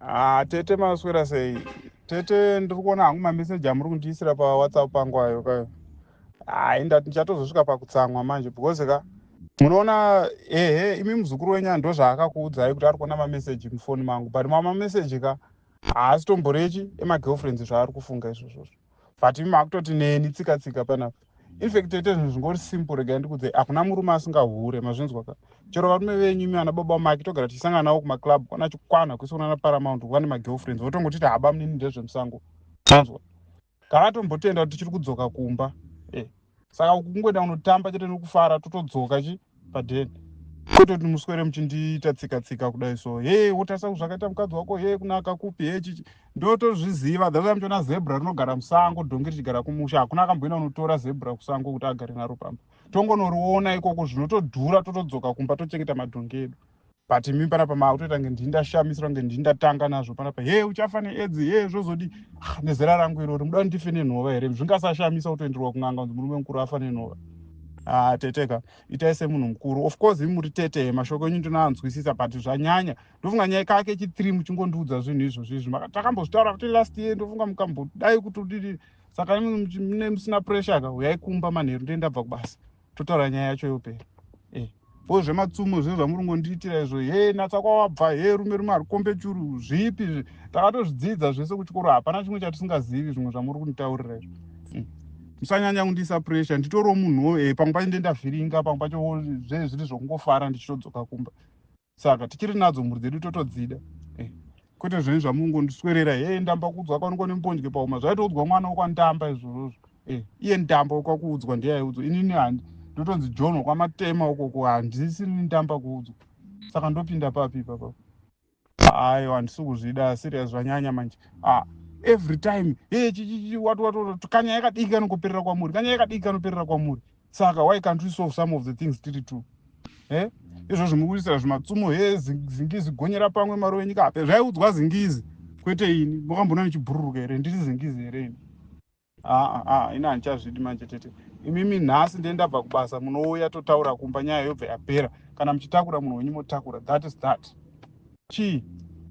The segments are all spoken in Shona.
Ah, tete maswera sei? Tete ndiri kuona hangu mameseji amuri kundiisira paWhatsApp pangu ayo kayo. Hayi ndati ndichatozosvika pakutsamwa manje because ka munoona ehe imi muzukuru wenyu ndo zvaakakuudzai kuti ari kuona mameseji mufoni mangu but mama meseji ka haasi tomborechi emagirlfriends zvaari kufunga izvozvozvo but imi makutoti neni tsika tsika panapa infact toite zvinhu zvingori simple regai ndikudze hakuna murume asingahure mazvinzwa ka chero varume venyu imi vana baba make togara tichisangana navo kumaclub kwana chikwana kwese kunana paramount kuva nemagirlfriends votongoti ti haba munini ndezvemusango anzwa kakatombotenda kuti tichiri kudzoka kumba eh, saka uku kungoenda kunotamba chete nekufara totodzoka chi padeni kwete kuti muswere muchindiita tsika tsika kudai so hee wotarisa kuti zvakaita mukadzi wako hee kunaka kupi hee chichi ndotozviziva that's why muchiona zebra rinogara musango dhongi richigara kumusha hakuna akamboina unotora zebra kusango kuti agare naro pamba tongonoriona ikoko zvinotodhura totodzoka kumba tochengeta madhongi edu but imi panapa maakutoita kunge ndii ndashamisira kunge ndii ndatanga nazvo panapa he uchafa needzi he zvozodii ah, nezera rangu irori muda ndife nenhova here zvingasashamisa kutoenderwa kun'anga kunzi murume mukuru afa nenhova ah, teteka itai semunhu mukuru of course imi muri tete mashoko enyu ndinoanzwisisa but zvanyanya ndofunga nyaya kake chithree muchingondiudza zvinhu izvozvi izvi takambozvitaura kuti last year ndofunga mukambodai kutodii saka mune musina pressure ka uyai kumba manheru ndee ndabva kubasa totaura nyaya yacho yopera eh, ko zvematsumo zve zvamuringondiitira izvo he natsa kwawabva he rume rume arikombe churu zvipi zvi takatozvidzidza zvese kuchikoro hapana chimwe chatisingazivi zvimwe zvamuri kunditaurira izvo hmm. musanyanya kundiisa pressure nditoriwo munhuwo e eh, pamwe pacho ndendavhiringa pamwe pacho zve zviri zvokungofara ndichitodzoka kumba saka tichiri nadzo mhuri dzedu totodzida eh, kwete zvenyu zvamungondiswerera he eh, ndamba kuudzwa kwanikwa nembonje pauma zvaitoudzwa mwana wokwandamba izvozvozvo eh, iye ndamba wekwakuudzwa ndeyaiudzwa inini handi ndotonzi john wekwamatema ukoko handisi ndamba kuudzwa saka ndopinda papi ipapa ayo handisi kuzvida serious zvanyanya manje ah, every time hey, eh, chichichi wati wati kanya yakadiki kanokuperera kwamuri kanya yakadiki kanoperera kwamuri saka why can't we solve some of the things tiri two eh? mm. izvozvo mukuisira zvimatsumo he zingizi gonyera pamwe mari wenyika hape zvaiudzwa zingizi kwete ini makambona ndichibhururuka here ndiri zingizi here ini aa ah, ah, ah, ini handichazvidi manje tete imimi nhasi ndee ndabva kubasa munouya totaura kumba nyaya yobva yapera kana muchitakura munhu wenyu motakura that is that chii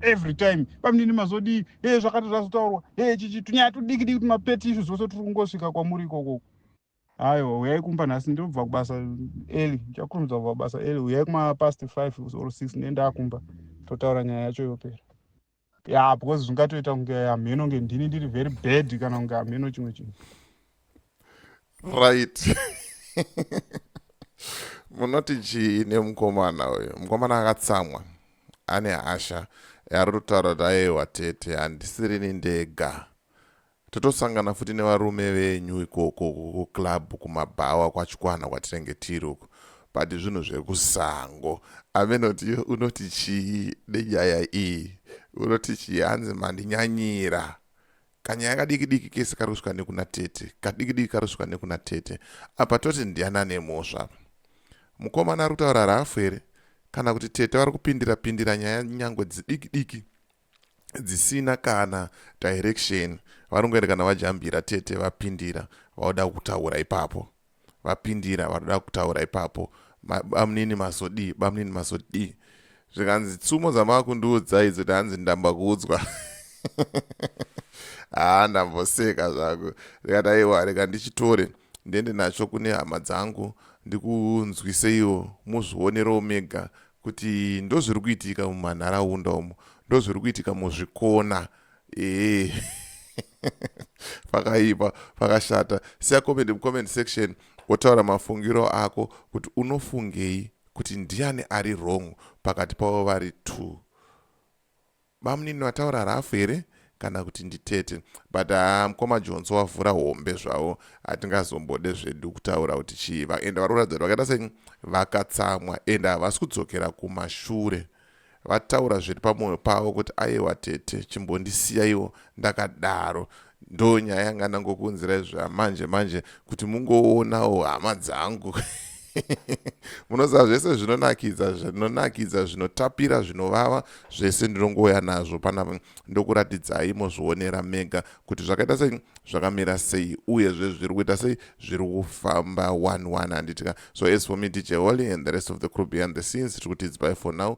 every time pamnini mazodii hee zvakati zvazotaurwa hee chichi tunyaya tudikidiki tumapeti izvi zvose tiri kungosvika kwamuri ikokoko Aiwa, uyai kumba nhasi ndobva kubasa early. Ndichakurumidza kubva kubasa early. Uyai kuma past 5 or 6 ndiye ndakumba. Totaura nyaya yacho yopera. Yeah, because zvingatoita kunge hameno nge ndini ndiri very bad kana kunge hameno chimwe chinhu. Right. Munoti chii nemukomana uyu? Mukomana akatsamwa. Ane hasha. Ari kutaura kuti aiwa tete handisirini ndega. Tatosangana futi nevarume venyu ikoko kuclub kumabhawa kwachikwana kwatinenge tiri uko but zvinhu zvekusango amenoti unoti chii nenyaya iyi unoti chii hanzi mandinyanyira kanyaya kadiki diki kese kari kusvika nekuna tete kadiki diki kari kusvika nekuna tete apa toti ndiana nemhosva apa mukomana ari kutaura rafu here kana kuti tete vari kupindira pindira nyaya nyangwe dzidiki diki dzisina kana direction vanongoenda kana vajambira tete vapindira vauda kutaura ipapo vapindira vanoda kutaura ipapo bamnini masodii bamnini masodii zvikanzi tsumo dzamakundiudza idzo tanzi ndamba kuudzwa haa ndamboseka zvangu ndikati aiwa reka ndichitore ndiende nacho kune hama dzangu ndikunzwiseiwo muzvionerewo mega kuti ndozviri kuitika mumanharaunda umo ndozviri kuitika muzvikona ee pakaipa pakashata siya comment mucomment section wotaura mafungiro ako kuti unofungei kuti ndiani ari wrong pakati pavo vari two Bamunini vataura rough here kana kuti nditete but haa mkoma jonso wavhura hombe zvavo hatingazombode zvedu kutaura kuti chii vaenda varoratidza kuti vakaita sei vakatsamwa ende havasi kudzokera kumashure vataura zviri pamwoyo pavo kuti aiwa tete chimbondisiyaiwo ndakadaro ndo nyaya yanga ndangokuunzira izvo amanje manje kuti mungoonawo hama dzangu munoziva zvese zvinonakidza zvinonakidza zvinotapira zvinovava zvese ndinongouya nazvo panapa ndokuratidzai mozvionera mega kuti zvakaita sei zvakamira sei uye zve zviri kuita sei zviri kufamba one one handitika so as for me dj holy and the rest of the crew behind the scenes tiri kutidzbai for now